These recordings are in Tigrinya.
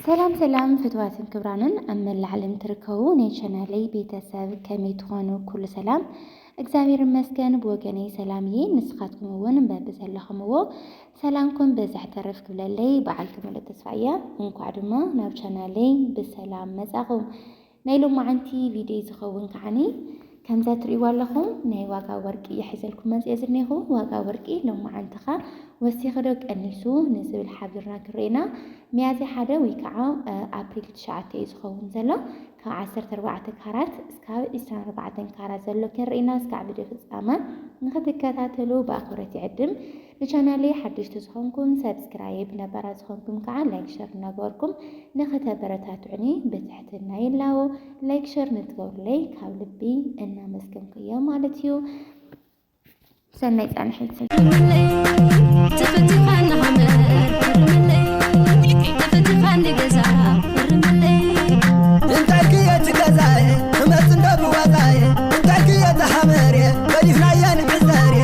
ሰላም ሰላም ፍትዋትን ክብራንን ኣብ መላእ ዓለም ትርከቡ ናይ ቻናለይ ቤተሰብ ከመይ ትኾኑ? ኩሉ ሰላም እግዚኣብሔር ይመስገን ብወገነይ ሰላም እየ። ንስኻትኩም እውን በቢ ዘለኹምዎ ሰላምኩም በዝሕ ተረፍ ክብለለይ በዓልቲ ሙሉእ ተስፋ እያ። እንኳዕ ድማ ናብ ቻናለይ ብሰላም መጻኹም። ናይ ሎማዓንቲ ቪድዮይ ዝኸውን ከዓኒ ከምዛ ትርእይዋ ኣለኹም ናይ ዋጋ ወርቂ ይሕዘልኩም መጽየ ዝኔኹ ዋጋ ወርቂ ሎማዓንቲ ከ ወሲኺ ዶ ቀኒሱ ንዝብል ሓቢርና ክርኤና ሚያዝያ ሓደ ወይ ከዓ ኣፕሪል ትሽዓተ እዩ ዝኸውን ዘሎ ካብ ዓሰርተ ኣርባዕተ ካራት እስካብ ዕስራን ኣርባዕተን ካራት ዘሎ ክንርኤና እስካዕ ቪድዮ ፍጻመ ንክትከታተሉ ብኣኽብረት ይዕድም ንቻናለይ ሓደሽቲ ዝኾንኩም ሰብስክራይብ ነባራት ዝኾንኩም ከዓ ላይክ ሸር እናገበርኩም ንኸተበረታትዑኒ ብትሕትና ይላቦ። ላይክ ሸር ንትገብሩለይ ካብ ልቢ እናመስገንኩ እየ ማለት እዩ። ሰናይ ፃንሒት እንታይ ክየት ገዛየ እመፅ እንዶ ብዋጣየ እንታይ ክየት ሃመርየ በሊፍናየን ዕዘርየ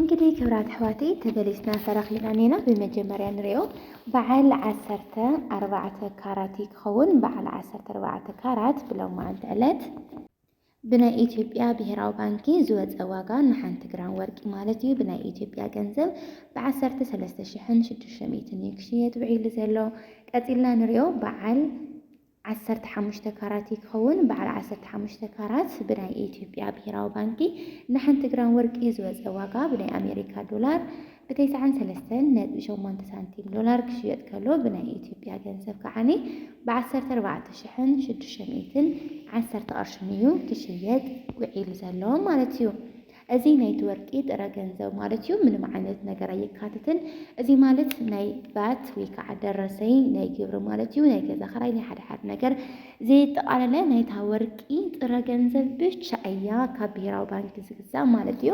እንግዲህ ክብራት ኣሕዋተይ ተበሊፅና ተረኪብና እኔና ብመጀመርያ ንሪኦ በዓል ዓሰርተ ኣርባዕተ ካራት እዩ ክኸውን በዓል ዓሰርተ ኣርባዕተ ካራት ብሎማዓንቲ ዕለት ብናይ ኢትዮጵያ ብሄራዊ ባንኪ ዝወፀ ዋጋ ንሓንቲ ግራም ወርቂ ማለት እዩ ብናይ ኢትዮጵያ ገንዘብ ብዓሰርተ ሰለስተ ሽሕን ሽዱሽተ ሚእትን እዩ ክሽየጥ ውዒሉ ዘሎ። ቀፂልና ንሪኦ በዓል ዓሰርተ ሓሙሽተ ካራት እዩ ክኸውን። በዓል ዓሰርተ ሓሙሽተ ካራት ብናይ ኢትዮጵያ ብሄራዊ ባንኪ ንሓንቲ ግራም ወርቂ ዝወፀ ዋጋ ብናይ ኣሜሪካ ዶላር ብ ተስዓን ሰለስተን ነጥቢ ሸሞንተ ሳንቲም ዶላር ክሽየጥ ከሎ ብናይ ኢትዮጵያ ገንዘብ ከዓኒ ብ ዓሰርተ ኣርባዕተ ሽሕን ሽዱሽተ ሚእትን ዓሰርተ ቅርሽን እዩ ክሽየጥ ውዒሉ ዘሎ ማለት እዩ። እዚ ናይቲ ወርቂ ጥረ ገንዘብ ማለት እዩ። ምንም ዓይነት ነገር ኣየካትትን። እዚ ማለት ናይ ቫት ወይ ከዓ ደረሰኝ ናይ ግብሪ ማለት እዩ። ናይ ገዛ ክራይ ናይ ሓደ ሓደ ነገር ዘየጠቓለለ ናይታ ወርቂ ጥረ ገንዘብ ብቻ እያ ካብ ብሄራዊ ባንኪ ዝግዛእ ማለት እዩ።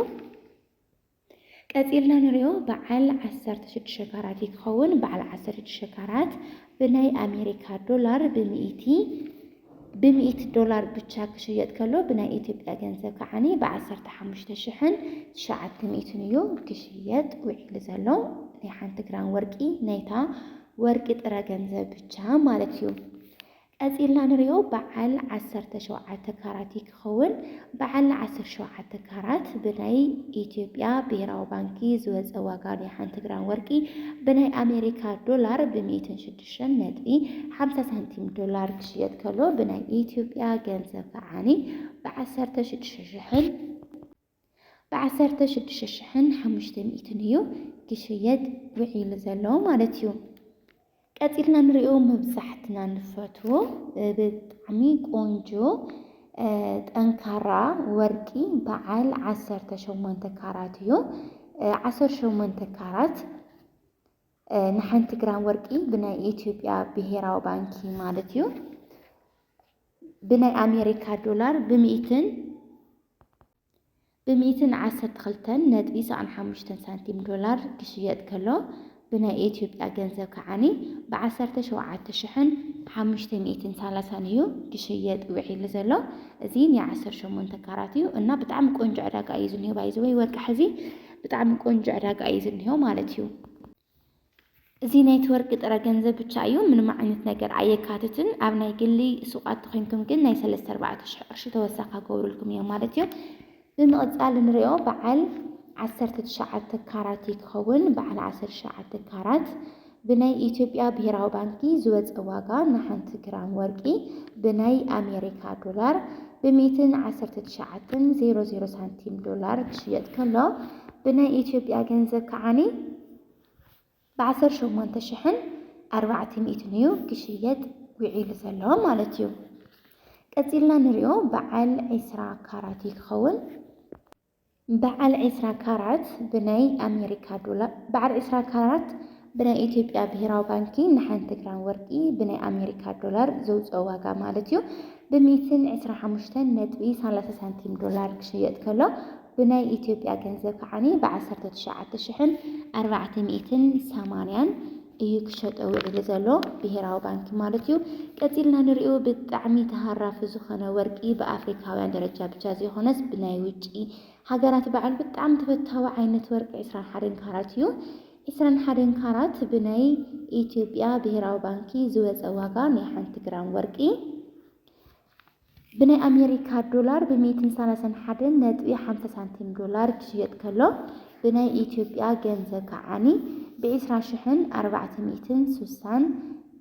ቀፂልና ንሪኦ በዓል ዓሰርተ ሽዱሽተ ካራት እዩ ክኸውን። በዓል ዓሰርተ ሽዱሽተ ካራት ብናይ ኣሜሪካ ዶላር ብሚእቲ ብሚእቲ ዶላር ብቻ ክሽየጥ ከሎ ብናይ ኢትዮጵያ ገንዘብ ከዓኒ ብዓሰርተ ሓሙሽተ ሽሕን ትሽዓተ ሚእትን እዩ ክሽየጥ ውዒሉ ዘሎ። ናይ ሓንቲ ግራም ወርቂ ናይታ ወርቂ ጥረ ገንዘብ ብቻ ማለት እዩ። ቀጺልና ንሪኦ በዓል ዓሰርተ ሸውዓተ ካራቲ ክኸውን በዓል ዓሰርተ ሸውዓተ ካራት ብናይ ኢትዮጵያ ብሄራዊ ባንኪ ዝወፀ ዋጋ ናይ ሓንቲ ግራም ወርቂ ብናይ ኣሜሪካ ዶላር ብ ሚእትን ሽዱሽተን ነጥቢ ሓምሳ ሳንቲም ዶላር ክሽየጥ ከሎ ብናይ ኢትዮጵያ ገንዘብ ከዓኒ ብ ዓሰርተ ሽዱሽተ ሽሕን ብዓሰርተ ሽዱሽተ ሽሕን ሓሙሽተ ሚእትን እዩ ክሽየጥ ውዒሉ ዘሎ ማለት እዩ። ቀጺልና ንሪኦ መብዛሕትና ንፈትዎ ብጣዕሚ ቆንጆ ጠንካራ ወርቂ በዓል ዓሰርተ ሸሞንተ ካራት እዩ። ዓሰርተ ሸሞንተ ካራት ንሓንቲ ግራም ወርቂ ብናይ ኢትዮጵያ ብሄራዊ ባንኪ ማለት እዩ ብናይ ኣሜሪካ ዶላር ብምእትን ብሚእትን ዓሰርተ ክልተን ነጥቢ ሰኣን ሓሙሽተን ሳንቲም ዶላር ክሽየጥ ከሎ ብናይ ኤትዮጵያ ገንዘብ ከዓኒ ብዓሰርተ ሸውዓተ ሽሕን ሓሙሽተ ሚእትን ሳላሳን እዩ ክሽየጥ ውዒሉ ዘሎ እዚ ናይ ዓሰርተ ሸሞንተ ካራት እዩ እና ብጣዕሚ ቆንጆ ዕዳጋ እዩ ዝኒሆ ባይዘወይ ወርቂ ሕዚ ብጣዕሚ ቆንጆ ዕዳጋ እዩ ዝኒሆ ማለት እዩ እዚ ናይቲ ወርቂ ጥረ ገንዘብ ብቻ እዩ ምንም ዓይነት ነገር ኣየካትትን ኣብ ናይ ግሊ ሱቃት ተኮንኩም ግን ናይ ሰለስተ ኣርባዕተ ሽሕ ቅርሺ ተወሳኪ ክገብርልኩም እዮም ማለት እዩ ብምቅጻል ንሪኦ በዓል ዓሰርተ ትሽዓተ ካራት እዩ ክኸውን በዓል ዓሰርተ ትሽዓተ ካራት ብናይ ኢትዮጵያ ብሄራዊ ባንኪ ዝወፀ ዋጋ ንሓንቲ ግራም ወርቂ ብናይ ኣሜሪካ ዶላር ብሚእትን ዓሰርተ ትሽዓተን ዜሮ ዜሮ ሳንቲም ዶላር ክሽየጥ ከሎ ብናይ ኢትዮጵያ ገንዘብ ከዓኒ ብዓሰርተ ሸሞንተ ሽሕን ኣርባዕተ ሚእትን እዩ ክሽየጥ ዊዒሉ ዘሎ ማለት እዩ። ቀጺልና ንሪኦ በዓል ዒስራ ካራት እዩ ክኸውን። በዓል ዒስራ ካራት ብናይ ኣሜሪካ ዶላር በዓል ዒስራ ካራት ብናይ ኢትዮጵያ ብሄራዊ ባንኪ ንሓንቲ ግራም ወርቂ ብናይ ኣሜሪካ ዶላር ዘውፅኦ ዋጋ ማለት እዩ ብሚእትን ዕስራ ሓሙሽተን ነጥቢ ሰላሳ ሳንቲም ዶላር ክሽየጥ ከሎ ብናይ ኢትዮጵያ ገንዘብ ከዓኒ ብ ዓሰርተ ትሽዓተ ሽሕን ኣርባዕተ ሚእትን ሰማንያን እዩ ክሸጦ ውዒሉ ዘሎ ብሄራዊ ባንኪ ማለት እዩ። ቀጺልና ንሪኦ ብጣዕሚ ተሃራፊ ዝኾነ ወርቂ ብ ኣፍሪካውያን ደረጃ ብቻ ዘይኾነስ ብናይ ውጪ ሃገራት በዓል ብጣዕሚ ተፈታዊ ዓይነት ወርቂ ዕስራን ሓደን ካራት እዩ። ዕስራን ሓደን ካራት ብናይ ኢትዮጵያ ብሄራዊ ባንኪ ዝወጸ ዋጋ ናይ ሓንቲ ግራም ወርቂ። ብናይ ኣሜሪካ ዶላር ብ ሚእትን ሰላሳን ሓደን ነጥቢ ሓምሳ ሳንቲም ዶላር ክሽየጥ ከሎ ብናይ ኢትዮጵያ ገንዘብ ከዓኒ ብ ዕስራ ሽሕን ኣርባዕተ ሚእትን ሱሳን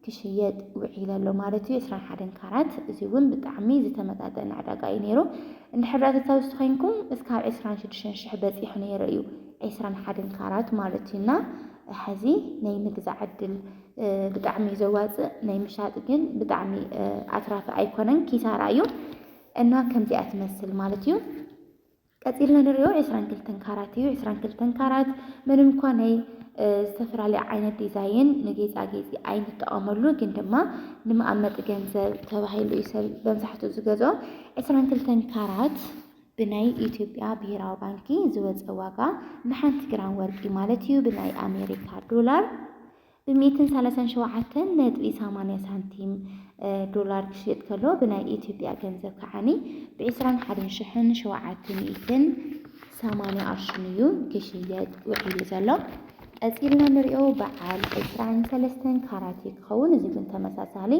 ክሽየጥ ውዒለ ኣሎ ማለት እዩ ዕስራን ሓደን ካራት እዚ እውን ብጣዕሚ ዝተመጣጠነ ዕዳጋ እዩ ነይሩ እንድሕር ዳኣ ተታውስቲ ኮይንኩም እስካብ ዕስራን ሽዱሽተን ሽሕ በፂሑ ነይሩ እዩ ዕስራን ሓደን ካራት ማለት እዩና ሕዚ ናይ ምግዛእ ዕድል ብጣዕሚ እዩ ዘዋፅእ ናይ ምሻጥ ግን ብጣዕሚ ኣትራፊ ኣይኮነን ኪሳራ እዩ እና ከምዚኣ ትመስል ማለት እዩ ቀፂልና ንሪኦ ዕስራን ክልተን ካራት እዩ ዕስራን ክልተን ካራት ምንም እኳ ናይ ዝተፈላለየ ዓይነት ዲዛይን ንጌፃጌፂ ኣይንጠቐመሉ ግን ድማ ንመቐመጢ ገንዘብ ተባሂሉ እዩ ሰብ መብዛሕትኡ ዝገዝኦ ዕስራን ክልተን ካራት ብናይ ኢትዮጵያ ብሄራዊ ባንኪ ዝወፀ ዋጋ ንሓንቲ ግራም ወርቂ ማለት እዩ ብናይ ኣሜሪካ ዶላር ብሚእትን ሰላሳን ሸውዓተን ነጥቢ ሰማንያ ሳንቲም ዶላር ክሽየጥ ከሎ ብናይ ኢትዮጵያ ገንዘብ ከዓኒ ብዕስራን ሓደን ሽሕን ሸውዓተ ሚእትን ሰማንያ ቅርሽን እዩ ክሽየጥ ውዒሉ ዘሎ። ቀጺልና ንሪኦ በዓል ዕስራን ሰለስተን ካራት እዩ ክኸውን። እዚ ግን ተመሳሳሊ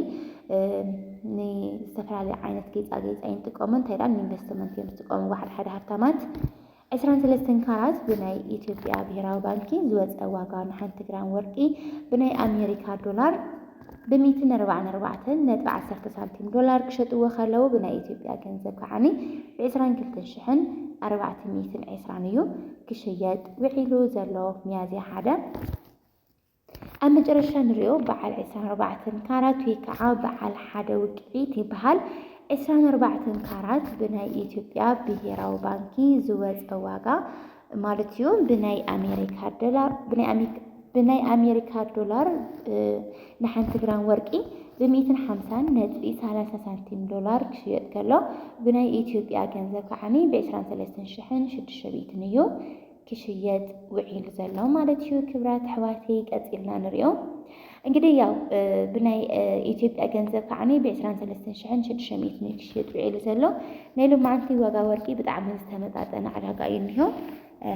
ንዝተፈላለዩ ዓይነት ጌፃጌፅ ኣይንጥቀሙ እንታይ ደኣ ንኢንቨስትመንት እዮም ዝጥቀሙ በዓል ሓደ ሃብታማት ዕስራን ሰለስተን ካራት ብናይ ኢትዮጵያ ብሔራዊ ባንኪ ዝወፀ ዋጋ ንሓንቲ ግራም ወርቂ ብናይ ኣሜሪካ ዶላር ብሚእቲ ነርባዓን ኣርባዕተን ነጥቢ ዓሰርተ ሳንቲም ዶላር ክሸጥዎ ከለው ብናይ ኢትዮጵያ ገንዘብ ከዓኒ ብዕስራን ክልተን ሽሕን ኣርባዕተ ሚእትን ዕስራን እዩ ክሽየጥ ውዒሉ ዘሎ ሚያዝያ ሓደ ኣብ መጨረሻ ንሪኦ በዓል ዕስራን ኣርባዕተን ካራት ወይ ከዓ በዓል ሓደ ውቅዒት ይበሃል። ዕስራን ኣርባዕተን ካራት ብናይ ኢትዮጵያ ብሄራዊ ባንኪ ዝወፀ ዋጋ ማለት እዩ ብናይ ኣሜሪካ ዶላር ብናይ ኣሜሪካ ዶላር ንሓንቲ ግራም ወርቂ ብሚእትን ሓምሳን ነጥቢ ሰላሳ ሳንቲም ዶላር ክሽየጥ ከሎ ብናይ ኢትዮጵያ ገንዘብ ከዓኒ ብዕስራን ሰለስተን ሽሕን ሽዱሽተ ሚእትን እዩ ክሽየጥ ውዒሉ ዘሎ ማለት እዩ። ክብራት ኣሕዋተይ ቀፂልና ንሪኦ። እንግዲህ ያው ብናይ ኢትዮጵያ ገንዘብ ከዓኒ ብዕስራን ሰለስተን ሽሕን ሽዱሽተ ሚእትን እዩ ክሽየጥ ውዒሉ ዘሎ። ናይ ሎማዓንቲ ዋጋ ወርቂ ብጣዕሚ ዝተመጣጠነ ዕዳጋ እዩ እኒሆ።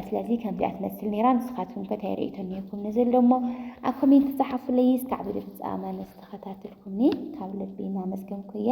ስለዚ ከምዚኣ ትመስል ነይራ። ንስኻትኩም ከ እንታይ ርእይቶ እኒሄኩም ነዚ ኣሎ እሞ ኣብ ኮሜንት ጸሓፉለይ። እስካዕ ብድፍጻመ ምስ ተኸታተልኩምኒ ካብ ልቢ እናመስገንኩ እየ።